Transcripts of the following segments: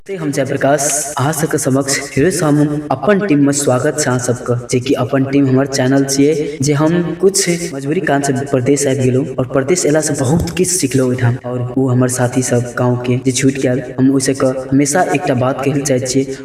से हम जयप्रकाश अहाँ सबके समक्ष फेरसँ हम अपन टीममे स्वागत छै अहाँ सबके जेकि अपन टीम हमर चैनल छियै जे हम कुछ मजबूरी कारणसँ परदेश आबि गेलहुँ आओर परदेश अयलासँ बहुत किछु सिखलहुँ ओहिठाम आओर ओ हमर साथी सब गाँवके जे छुटि गेल हम ओहिसँ कऽ हमेशा एकटा बात कहय लए चाहैत छियै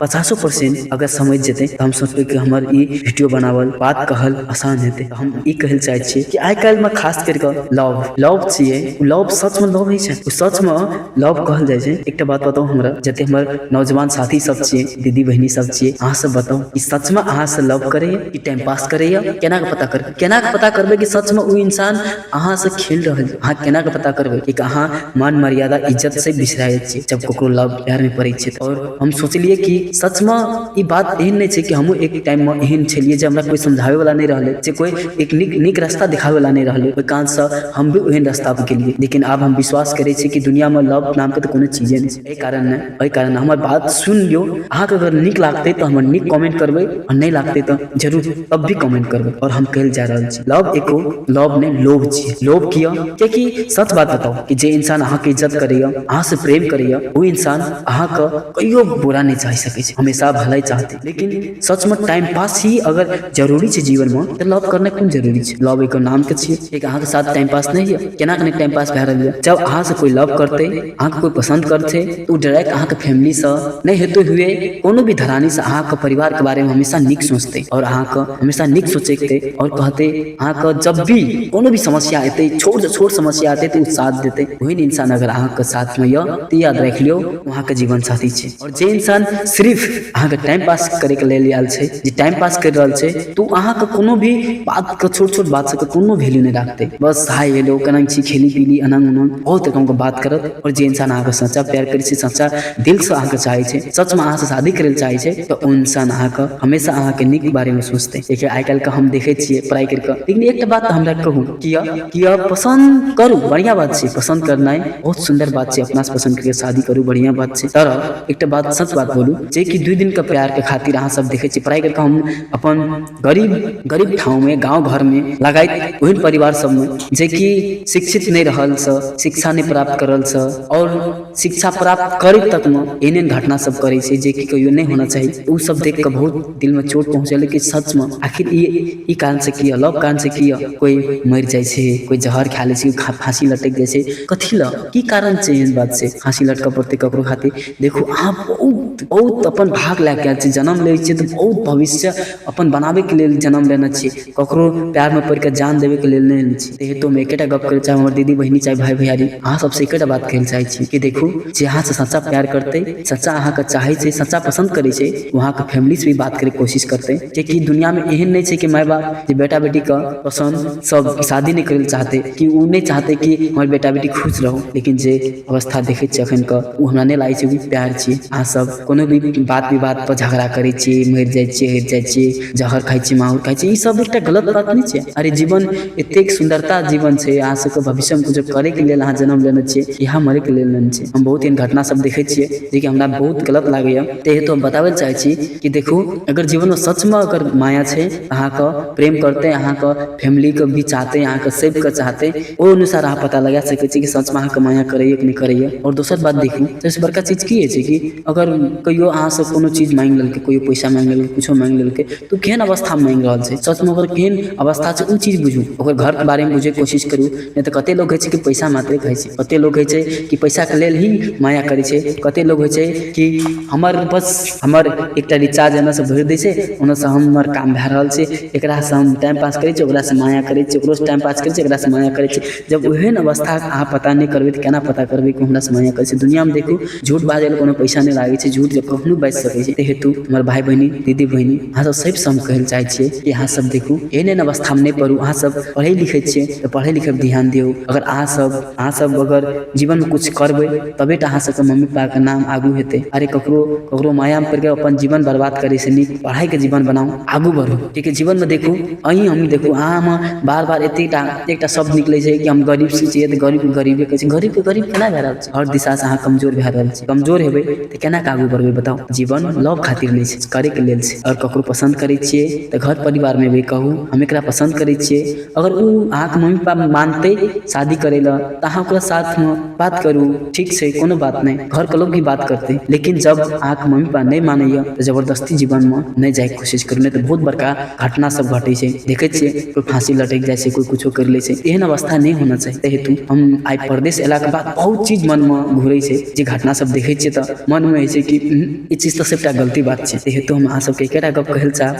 पचासो परसेंट अगर समझि जेतै तऽ हम सोचबै कि हमर ई वीडियो बनावल बात कहल आसान हेतै तऽ हम ई कहै लए चाहै छियै कि आइ काल्हिमे खास करि कऽ लव लव छियै ओ लव सचमे लव होइ छै ओ सचमे लव कहल जाइ छै एकटा बात बताउ हमरा जते हमर नौजवान साथी सब छियै दीदी बहिनी सब छियै अहाँ सब बताउ कि सचमे अहाँ से लव करैया कि टाइम पास करैया केना कऽ पता करबै केना कऽ पता करबै कि सचमे ओ इंसान अहाँ से खेल रहल छै अहाँ केना कऽ पता करबै कि अहाँ मान मर्यादा इज्जत से बिसराय छियै जब ककरो लव प्यारमे पड़ै छियै तऽ आओर हम सोचलियै कि सचमे ई बात एहन नहि छै कि हमहूँ एक टाइममे एहन छलियै जे हमरा कोइ समझाबयवला नहि रहलै जे कोइ एक नीक नीक रास्ता देखाबयवला नहि रहलै ओहि कारणसँ हम भी ओहन रास्तापर गेलियै लेकिन आब हम विश्वास करै छी कि दुनिआँमे लव नामके तऽ कोनो चीजे नहि छै एहि कारण नहि एहि कारण हमर बात सुनि लियौ अहाँके अगर नीक लागतै तऽ हमर नीक कमेंट करबै आ नहि लागतै तऽ जरूर तब भी कमेंट करबै आओर हम कहय लेल जा रहल छी लव एको लव ने लोभ छियै लोभ किया कियाकि सच बात बताउ कि जे इंसान अहाँ के इज्जत करैया अहाँ से प्रेम करैया ओ इंसान अहाँ के कहियो बुरा नहि चाहि सकै छै हमेशा भलाई चाहतै लेकिन सच में टाइम पास ही अगर जरूरी छै जीवन में तऽ लव करना कोन जरूरी छै लव एको नाम के छियै कियाकि अहाँ के साथ टाइम पास नहि होइया केना केना टाइम पास भए रहल या जब अहाँ से कोई लव करतै अहाँके कोइ पसन्द करतै तऽ ओ डायरेक्ट अहाँके फैमिलीसँ नहि हेतै हुए कोनो भी धरानीसँ अहाँके परिवारके बारेमे हमेशा नीक सोचतै आओर अहाँके हमेशा नीक सोचेतै आओर कहतै अहाँके जब भी कोनो भी समस्या एतै छोटसँ छोट समस्या एतै तऽ ओ साथ देतै ओहन इन्सान अगर अहाँके साथमे यऽ तऽ याद राखि लियौ ओ अहाँके जीवन साथी छै जे इन्सान सिर्फ अहाँके टाइम पास करैके लेल आयल छै जे टाइम पास करि रहल छै तऽ ओ अहाँके कोनो भी बातके छोट छोट बात सभके कोनो वैल्यू नहि राखतै बस हाय हेलो केना छी खेली पीली एना ओना बहुत रकमके बात करत आओर जे इन्सान अहाँके सच्चा प्यार करै छै सच्चा दिलसँ अहाँके चाहै छै सचमे अहाँसँ शादी करै लए चाहै छै तऽ ओ इन्सान अहाँके हमेशा अहाँके नीक बारेमे सोचतै किएकि आइ काल्हिके हम देखै छियै पढ़ाइ करि कऽ लेकिन एकटा बात तऽ हमरा कहू किया किया पसन्द करू बढ़िया बात छै पसन्द करनाइ बहुत सुन्दर बात छै अपना से पसन्द करके शादी करू बढ़िया बात छै तर एकटा बात सच बात बोलू जे कि दू दिन के प्यार के खातिर अहाँ सब देखे छी पढ़ाई करके हम अपन गरीब गरीब ठाव में गाँव घर में लगायत ओहन परिवार सब में जे कि शिक्षित नहि रहल स शिक्षा नहि प्राप्त करल स और शिक्षा प्राप्त करैत तकमे एहन एहन घटना सब करै छै जेकि कहियो नहि होना चाही ओ सब देख कऽ बहुत दिल मे चोट पहुँचल कि सच मे आखिर ई ई कारण से किया लव कारण से किया कोइ मरि जाइ छै कोइ जहर खाय लै छै फाँसी लटैक जाइ छै कथी लए की कारण छै एहन बात छै फाँसी लटकऽ पड़तै ककरो खातिर देखू अहाँ बहुत बहुत अपन भाग लए कऽ आयल छी जनम लै छियै तऽ बहुत भविष्य अपन बनाबैके लेल जनम लेने छी ककरो पएरमे पड़ि कऽ जान देबयके लेल नहि एने छी एहिहेतु हम एकेटा गप्प कहय लेल चाहब हमर दीदी बहिनी चाहे भाय भैयारी अहाँ सभसँ एकेटा बात कहय लेल चाहै छी कि देखू जे अहाँसँ सच्चा प्यार करतै सच्चा अहाँकेँ चाहै छै सच्चा पसन्द करै छै ओ अहाँके फैमिलीसँ भी बात करयके कोशिश करतै किएकि दुनिआँमे एहन नहि छै कि माय बाप जे बेटा बेटीके पसन्दसँ शादी नहि करय लेल चाहतै कि ओ नहि चाहतै कि हमर बेटा बेटी खुश रहू लेकिन जे अवस्था देखै छियै एखनके ओ हमरा नहि लागै छै ओ प्यार छियै अहाँसभ कोनो भी बात विवाद पर झगड़ा करै छी मरि जाइ छी हरि जाइ छी जहर खाइ छी माहुर खाइ छी ई सब एकटा गलत बात नहि छै अरे जीवन एतेक सुन्दरता जीवन छै अहाँ सबके भविष्य मे कुछो करै के लेल अहाँ जनम लेने छियै इएह मरे के लेल नेने छियै हम बहुत एहन घटना सब देखै छियै जेकि हमरा बहुत गलत लागैया ताहि हेतु हम बताबै चाहै छी कि देखू अगर जीवन मे सच मे अगर माया छै अहाँ के प्रेम करतै अहाँ के फैमिली के भी चाहतै अहाँ के सब के चाहतै ओहि अनुसार अहाँ पता लगा सकै छी कि सचमे अहाँके माया करैए कि नहि करैए आओर दोसर बात देखू सबसँ बड़का चीज की होइ छै कि अगर कहिओ अहाँसँ कोनो चीज माँगि लेलकै कहिओ पइसा माँगि लेलकै किछु माँगि लेलकै तऽ ओ केहन अवस्थामे माँगि रहल छै सचमे ओकर केहन अवस्था छै ओ चीज बुझू ओकर घरके बारेमे बुझैके कोशिश करू नहि तऽ कतेक लोक होइ छै कि पइसा मात्रे खाइ छै कतेक लोक होइ छै कि पइसाके लेल ही माया करै छै कतेक लोक होइ छै कि हमर बस हमर एकटा रिचार्ज एनऽसँ भरि दै छै ओनऽसँ हमर काम भए रहल छै एकरासँ हम टाइम पास करै छियै ओकरासँ माया करै छियै ओकरोसँ टाइम पास करै छियै एकरासँ माया करै छियै जब ओहेन अवस्था अहाँ पता नहि करबै तऽ केना पता करबै कि हमरासँ माया करै छै दुनिआँमे देखू झूठ बाजय लए कोनो पैसा नहि लागै छै झूठ जब कखनो बाजि सकै छै तै हेतु हमर भाय बहिनी दीदी बहिनी अहाँ सब सबसँ हम कहय लए चाहै छियै कि अहाँ सब देखू एहन एहन अवस्थामे नहि पड़ू अहाँ सब पढ़ै लिखै छियै तऽ पढ़ै लिखैपर ध्यान दियौ अगर अहाँ सब अहाँ सब अगर जीवनमे किछु करबै तबे टा अहाँ सबके मम्मी पापा के नाम आगू हेतै अरे ककरो ककरो माया मे पड़ि के अपन जीवन बर्बाद करै से नीक पढ़ाई के जीवन बनाउ आगू बढ़ू कियाकि जीवन मे देखू अहीं हम देखू अहाँ मे बार बार एते टा एते टा शब्द निकलै छै कि हम गरीब से छियै तऽ गरीब के गरीबे कहै छै गरीब के गरीब केना भए रहल छै हर दिशा से अहाँ कमजोर भए रहल छी कमजोर हेबै तऽ केना कऽ आगू बढ़बै बताउ जीवन लव खातिर नहि छै करै के लेल छै आओर ककरो पसन्द करै छियै तऽ घर परिवार मे भी कहू हम एकरा पसन्द करै छियै अगर ओ अहाँके मम्मी पापा मानतै शादी करै लए तऽ अहाँ ओकरा साथमे बात करू ठीक छै कोनो बात नहि घरके लोक भी बात करतै लेकिन जब अहाँके मम्मी पापा नहि मानैए तऽ जबरदस्ती जीवनमे नहि जाइके कोशिश करू नहि तऽ बहुत बड़का घटना सब घटै छै देखै छियै कोइ फाँसी लटकि जाइ छै कोइ किछो करि लै छै एहन अवस्था नहि होना चाही ताहि हेतु हम आइ परदेश अयलाके बाद बहुत चीज मनमे घुरै छै जे घटना सब देखै छियै तऽ मनमे होइ छै कि ई चीज तऽ सबटा गलती बात छै ताहि हेतु हम अहाँ सबके एकेटा गप कहै लए चाहब